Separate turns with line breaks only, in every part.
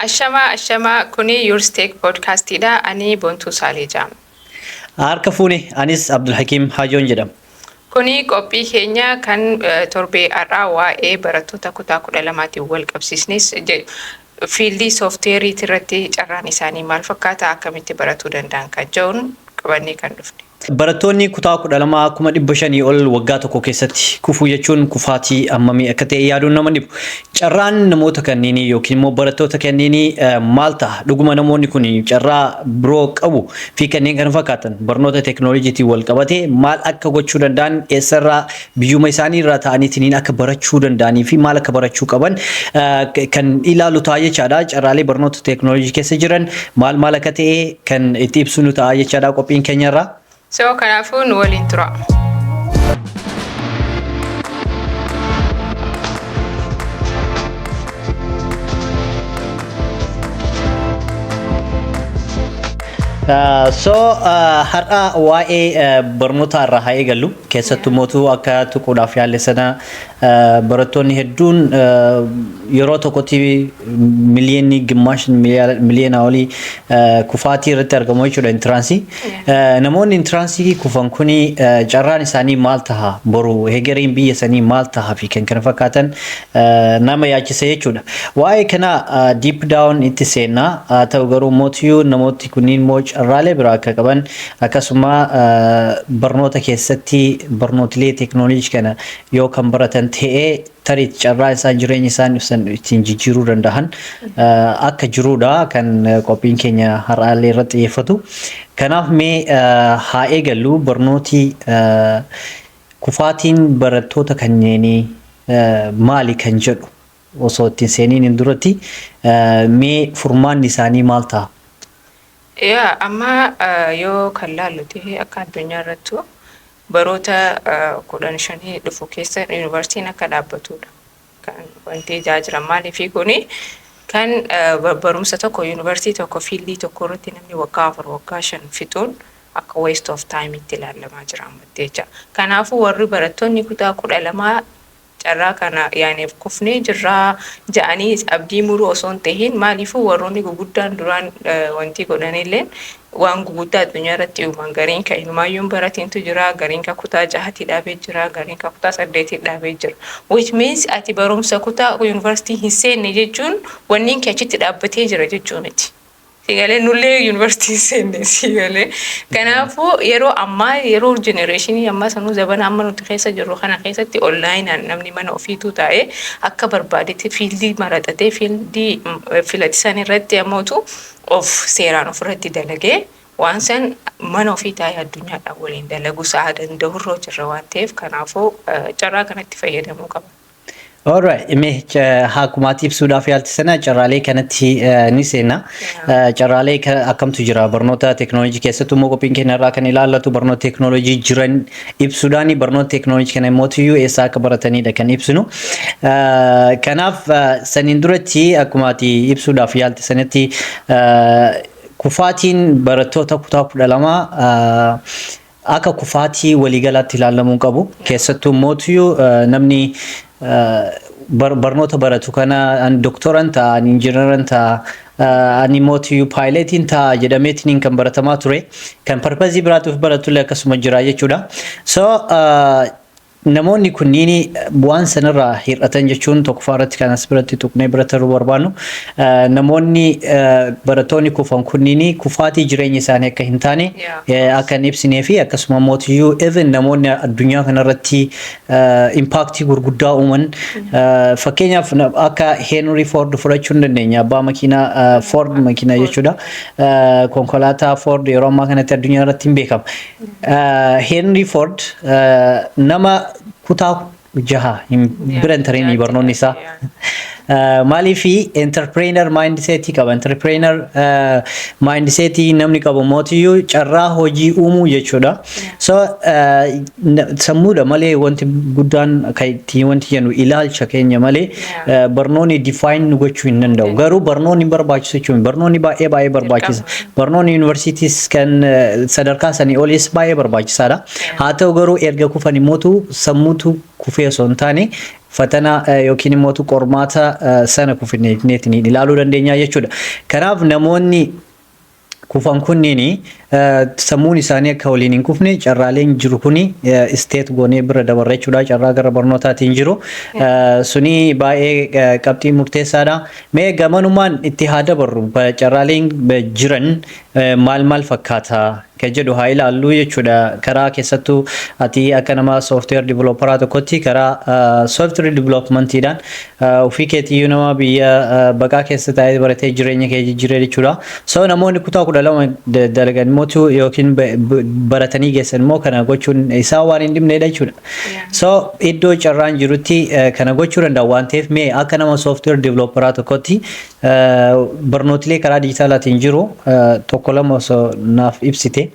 Ashamaa ashamaa kunii yours tech podcast dha anii bontuu saalee jaama. Harka
fuune anis Abdulhakim Hajoon jedhama. Kuni qophii
keenya kan torbee har'aa waa'ee barattoota kutaa kudha lamaatiin wal qabsiisnis fiildii soofteeriitii irratti carraan isaanii maal fakkaata akkamitti baratuu danda'an kan jedhuun qabannee kan dhufne. Barattoonni kutaa
12 kuma 500 ol waggaa tokko keessatti kufuu jechuun kufaatii hammamii akka ta'e yaaduun nama hin dhibu. Carraan namoota kanneenii yookiin immoo barattoota kanneenii maal ta'a? Dhuguma namoonni kun carraa biroo qabu? fi kanneen kana fakkaatan barnoota teeknooloojiitiin wal qabatee maal akka gochuu danda'an eessarraa biyyuma isaanii irraa ta'aniitiin akka barachuu danda'anii fi maal akka barachuu qaban kan ilaalu ta'a jechaadha. Carraalee barnoota teeknooloojii keessa jiran maal maal akka ta'e kan itti ibsu nu ta'a jechaadha qophiin keenya irraa. So kanaafuu
nu waliin tura.
So har'a waa'ee barnootaa irraa haa eegallu. Keessattuu mootuu akka tuquudhaaf yaalle sana barattoonni hedduun yeroo tokkotti miliyoonni gimmaashin miliyoonaa olii kufaatii irratti argamu jechuudha intiraansii. Namoonni intiraansii kufan kuni carraan isaanii maal taha boru hegeriin biyya sanii maal taha fi kan kana fakkaatan nama yaachisa jechuudha. Waa'ee kana deep down itti seennaa haa ta'u garuu mootiyyuu namooti kunniin moo carraalee biraa akka qaban Akkasuma barnoota keessatti barnootilee teeknooloojii kana yoo kan baratan ta'e tarii carraa isaan jireenya isaan ibsan ittiin jijjiiruu danda'an akka jiruudha kan qophiin keenya har'aallee irratti xiyyeeffatu. Kanaaf mee haa eegallu barnooti kufaatiin barattoota kanneenii maali kan jedhu osoo ittiin seeniin hin duratti mee furmaanni isaanii maal ta'a? Yaa
amma yoo kan laallu ta'e akka addunyaa irrattu baroota kudhan shanii dhufu keessa yuunivarsiitiin akka dhaabbatudha. Kan wanti ijaa jiran maaliifi kuni kan barumsa tokko yuunivarsiitii tokko fiildii tokko irratti namni waggaa afur waggaa shan fixuun akka waste of time itti ilaalamaa jira ammatti jecha. Kanaafuu warri barattoonni kutaa kudha lamaa carraa kana yaaneef kufnee jirra ja'aniis abdii muruu osoo hin tahin maaliifuu warroonni guguddaan duraan wantii godhanilleen waan guguddaa addunyaa irratti uuman gariin ka inumaayyuu hin baratintu jira gariin ka kutaa jahatii dhaabee jira gariin ka kutaa saddeetii dhaabee jira which means ati barumsa kutaa university hin seenne jechuun wanniin kee achitti dhaabbatee jira jechuu miti Sii galee nullee university hin seenne sii galee kanaafuu yeroo ammaa yeroo generation ammaa sanuu zabana amma nuti keessa jirru kana keessatti online namni mana ofiituu taa'ee akka barbaadetti fiildii maraxatee fiildii filatisan irratti ammootu of seeraan ofirratti dalagee waan san mana ofii taa'ee addunyaadhaan waliin dalagu sa'a danda'urra jirra waan ta'eef kanaafuu carraa kanatti fayyadamuu qaba. Alright,
mee ca- haakumaatti ibsuudhaaf yaalti sana carraalee kanatti eh, ni seenna. Eh, Carraalee ka- akkamtu jira barnoota teeknooloojii keessatti immoo qophiin keenya irraa kan ilaallatu barnoota teeknooloojii jiran ibsuudhaan barnoota teeknooloojii kana immoo iyyuu eessaa akka baratanidha kan ibsinu. Eh, Kanaaf eh, saniin duratti akkuma ati ibsuudhaaf yaalti sanatti eh, kufaatiin barattoota kutaa kudha lama akka kufaatii waliigalaatti ilaallamuun qabu. Keessattuu mootiyu namni barnoota baratu kana ani doktoran ta'a, ani injinaran ta'a, ani mootiyu paayileetiin ta'a jedhameetiin kan baratamaa ture. Kan parpazii biraatiif baratullee akkasuma jira jechuudha. So Namoonni kunniin bu'aan san irraa hir'atan jechuun tokkoffaa irratti kan as biratti tuqnee bira tarruu barbaannu namoonni barattoonni kufan kunniin kufaatii jireenya isaanii akka hin taane akka hin ibsinee fi akkasuma mootiyyuu even namoonni addunyaa kanarratti impaaktii gurguddaa uuman fakkeenyaaf akka Heenurii Foord fudhachuu ni dandeenya abbaa makiinaa Foord makiinaa jechuudha konkolaataa Foord yeroo ammaa kanatti addunyaa irratti hin beekama. Heenrii Foord nama kutaa jaha hin bira hin tareenii barnoonni isaa. Maaliif enterpireener maayindiseetii qaba. Enterpireener maayindiseetii namni qabu mootiyyuu carraa hojii uumuu jechuudha. So sammuudha malee wanti guddaan kan ittiin wanti jennu ilaalcha keenya malee barnoonni define nu gochuu hin danda'u. Garuu barnoonni hin barbaachisu jechuun miti. barnoonni baay'ee baay'ee barbaachisa. Barnoonni yuunivarsiitiis kan eh, sadarkaa sanii oliis baay'ee barbaachisaadha. Haa ta'u garuu erga kufan immootu sammuutu kufee osoo hin taane fatana eh, yookiin immootu qormaata eh, sana kufineetiin ilaaluu dandeenya jechuudha. Kanaaf namoonni kufan kunniin sammuun isaanii akka waliin hin kufne carraaleen jiru kuni isteet goonee bira dabarra jechuudha. Carraa gara barnootaatiin jiru suni baay'ee qabxii murteessaadha. Mee gamanumaan itti haa dabarru carraaleen jiran maal maal fakkaata kan jedhu haa ilaallu jechuudha. Karaa keessattuu ati akka nama software developeraa tokkotti karaa software developmentiidhaan Ofii keetiyyuu nama biyya baqaa keessa taa'ee baratee jireenya kee jijjiiree jechuudha. So namoonni kutaa kudha lama dalagan immoo yookiin baratanii geessan immoo kana gochuun isaa waan hin dhibneedha jechuudha. So iddoo carraan jirutti kana gochuu danda'a waan ta'eef mee akka nama software developeraa tokkotti barnootilee karaa diijitaalaatiin jiru tokko lama osoo naaf ibsite.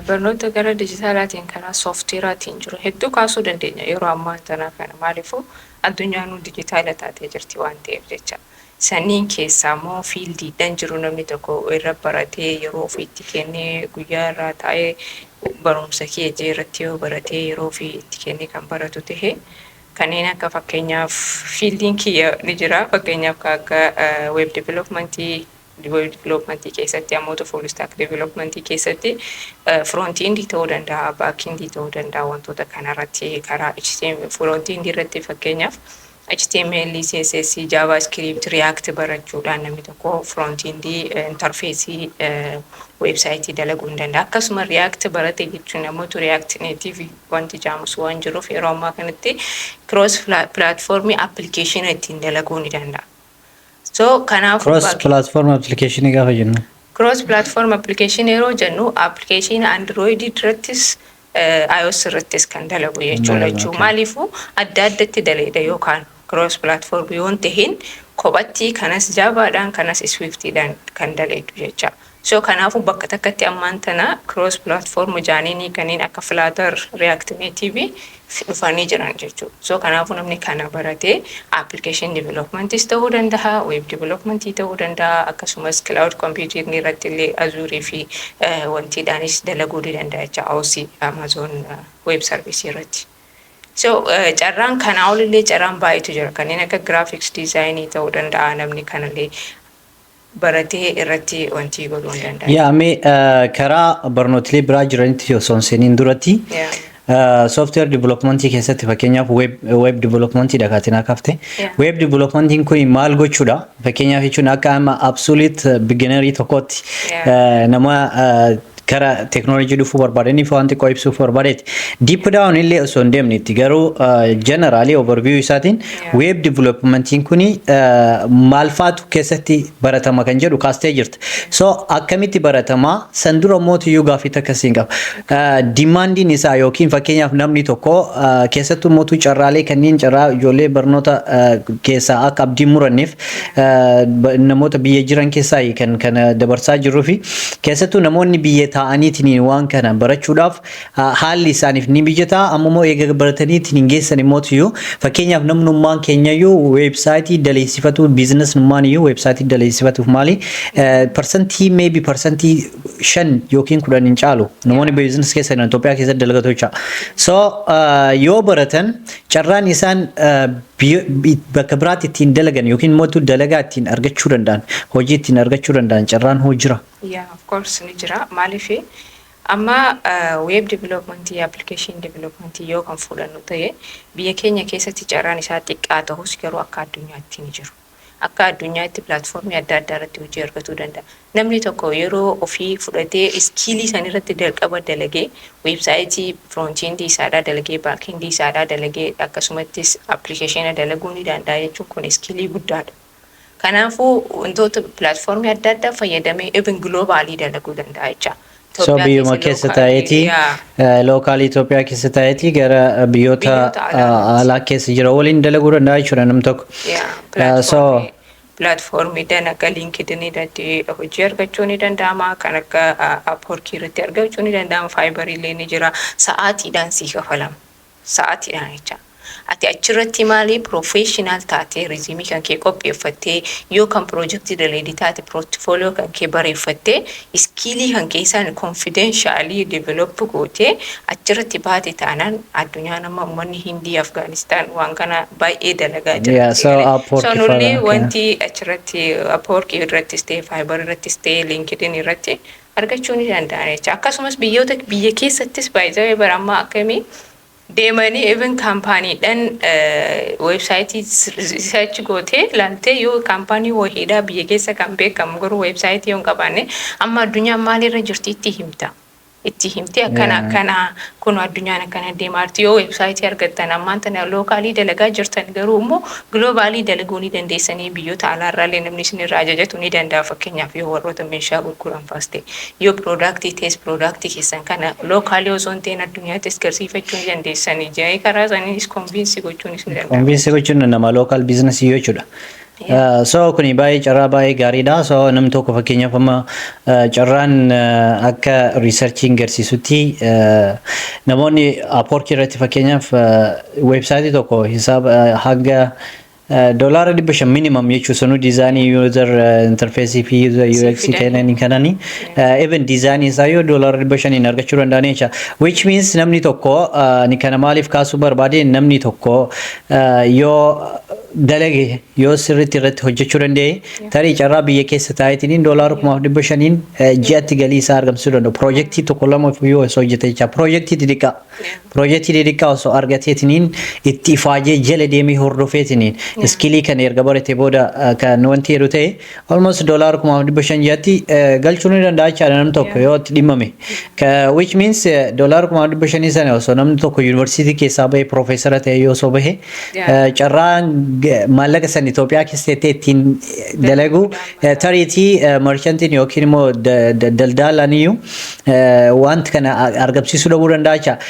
Barnoota gara dijitaalaatiin kana sooftiweeraatiin jiru hedduu kaasuu dandeenya yeroo ammaan tanaa kana maaliifuu addunyaanuu dijitaala taatee jirti waan ta'eef jecha. Sanniin keessaa immoo fiildiidhan jiru namni tokko irra baratee yeroo ofii itti kennee guyyaa irraa taa'ee barumsa kiyya jee irratti yoo baratee yeroo ofii itti kennee kan baratu tahe kanneen akka fakkeenyaaf fiildiin kiyya ni jira fakkeenyaaf ka akka web developmentii Diveloopmantii keessatti ammoo full stack diveloopmantii keessatti front end ta'uu danda'a, back end ta'uu danda'a wantoota kanarratti karaa HTML front end irratti fakkeenyaaf HTML, CSS, JavaScript, React barachuudhaan namni tokko front end interface website dalaguu hin danda'a. Akkasuma React barate jechuun ammoo React native wanti jaamus waan jiruuf yeroo ammaa kanatti cross platform application ittiin dalaguu ni danda'a. So kanaaf Cross platform
application gaafa jennu. Cross platform
application yeroo jennu application Android irrattis eh, iOS irrattis kan dalagu jechuudha Dalagu, jechuu okay. maaliifuu adda addatti daleeda yookaan cross platform yoon tahin kophattii kanas jaabaadhaan kanas swiftidhaan kan daleedu jecha So kanaafu bakka takkatti ammaan tana cross platform jaaniini kanneen akka flutter, react native fi dhufanii jiran jechu. So kanaafu namni kana barate application developments ta'uu dandaha, web development ta'uu dandaha, akkasumas cloud computing irratti illee azure fi wantii dhaanis dalaguu ni dandaha jecha AOC, Amazon web service irratti. So carraan kanaa ol illee carraan baay'eetu jira kanneen akka graphics design ta'uu dandaha namni kana illee baratee irratti wantii godhuu hin
danda'an. Yaa mee karaa barnootilee biraa jiranitti osoo hin seeniin duratti software development keessatti fakkeenyaaf web web development dha kaatiin akka hafte web development kun maal gochuudha fakkeenyaaf jechuun akka amma absolute beginnerii tokkotti nama gara teknoolojii dhufuu barbaadaniif waan xiqqoo ibsuuf barbaadeeti. Deep down illee osoo hin deemnetti garuu generally overview isaatiin Yeah. web developmentiin kuni eh, maal faatu keessatti baratama kan jedhu kaastee jirta. So akkamitti baratama san dura mootiyyuu gaaffii takka siin qaba. Eh, Dimaandiin isaa yookiin fakkeenyaaf namni tokko eh, keessattuu mootuu carraalee kanneen carraa ijoollee barnoota eh, keessaa akka abdiin muranneef namoota biyya jiran keessaa kan kana dabarsaa jirruu fi keessattuu namoonni biyya taa'aniitiin waan kana barachuudhaaf haalli isaaniif ni mijataa amma immoo eega barataniitiin hin geessan immoo iyyuu fakkeenyaaf namnummaan keenya iyyuu weebsaayitii daleessifatu biizinasnummaan iyyuu weebsaayitii daleessifatuuf maali parsantii meebi parsantii shan yookiin kudhan hin caalu namoonni biizinas keessa jiran Itoophiyaa keessatti dalagatu jecha so yoo baratan carraan isaan Biyyo, bakka biraatti ittiin dalagan yookiin immoo tu dalagaa ittiin argachuu danda'an, hojii ittiin argachuu danda'an carraan hoo jira? Yeah of course
ni jira. Maaliif amma web development, application development yoo kan fuudhannu ta'e biyya keenya keessatti carraan isaa xiqqaa tahus garuu akka addunyaatti ni jiru. Akka addunyaatti platform adda addaa irratti hojii argatuu danda'a. Namni tokko yeroo ofii fudhatee iskiilii san irratti jalqaba dalagee website front end isaadhaa dalagee back end isaadhaa dalagee akkasumattis application dalaguu ni danda'a jechuun kun iskiilii guddaadha. Kanaafuu wantoota platform adda addaa fayyadamee even globally dalaguu danda'a jechaa. So Itoophiyaa biyyuma
keessa keessa lookaalii, taa'eeti yaa. lookaalii Itoophiyaa keessa taa'eeti gara biyyoota Biyyoota alaa ah, irratti. alaa keessa jira waliin dalaguu danda'a jechuudha nam tokko. Yaa, Ah, so pilaatfoormii pilaatfoormii
dalaga liinkidin irratti hojii argachuu ni danda'ama kan akka apworkii irratti argachuu ni danda'ama faayibarii illee ni jira sa'aatiidhaan sii kafalama sa'aatiidhaan jecha. Ati achirratti maali professional taatee resume kan kee qopheeffattee yoo kan project daleedi taate portfolio kan kee bareeffattee iskiilii kan kee isaan confidentially develop gootee achirratti baate taanaan addunyaan amma ummanni hindii afgaanistaan waan kana baay'ee dalagaa Yeah, jira so jedhanii Upwork so nullee fa'aa, okay. wanti achirratti upwork irrattis ta'e fiber irrattis ta'e linkedin irratti argachuu ni danda'an jecha akkasumas biyyoota biyya keessattis by the way bara ammaa akkamii deemanii even kaampaaniidhaan weebsaayitii search gootee laaltee yoo kaampaanii wahiidhaa biyya keessa kan beekamu garuu weebsaayitii yoo hin qabaanne amma addunyaan maalirra jirti itti himta itti himtee akkana Yeah. akkana kun addunyaan akkana deemaa jirti yoo weebsaayitii argattan ammaan tana lookaalii dalagaa jirtan garuu immoo Globally dalaguu ni dandeessanii biyyoota alaa irraa illee namni isin irraa ajajatu ni danda'a fakkeenyaaf yoo warroota meeshaa gurguran faas ta'e yoo product ta'es product keessan kana locally osoo hin ta'in addunyaattis garsiifachuu ni dandeessanii jedhanii karaa isaaniinis convince gochuunis ni danda'ama. Convince gochuun ni danda'ama local
business yoo jechuudha. Uh, so kuni baay'ee carraa baay'ee gaariidha so namni tokko fakkeenyaaf amma uh, carraan uh, akka riisarchiin garsiisutti uh, namoonni apoorkii irratti fakkeenyaaf uh, Website tokko hisaaba hanga doolaara dhibba shan minimum jechuu sanuu diizaanii user interface fi user UX kennanii kananii even diizaanii isaa yoo doolaara dhibba shaniin argachuu danda'anii jecha which means namni tokko ni kana maaliif kaasuu barbaade namni tokko yoo dalage yoo sirriitti irratti hojjechuu danda'e tarii carraa biyya keessa taa'eetiin doolaara kumaaf dhibba shaniin ji'atti galii isaa argamsiisuu danda'u piroojeektii tokko lama yoo osoo hojjete jecha piroojeektii xixiqqaa Piroojeektii didiqqaa osoo argateetiniin itti ifaajee jala deemee hordofeetiniin iskilii kana erga barate booda kan wanti jedhu ta'e almost doolaara kuma dhibba shan ja'atti galchuu ni danda'a jechaadha namni tokko yoo itti dhimmame. Which means doolaara kuma dhibba shanii sana osoo namni tokko yuunivarsiitii keessaa bahee piroofeesara ta'e yoo osoo bahe carraan maallaqa san Itoophiyaa keessa ta'e ittiin dalagu tariitii marshantiin yookiin immoo daldaalaan iyyuu wanta kana argamsiisuu dhabuu danda'a jechaadha.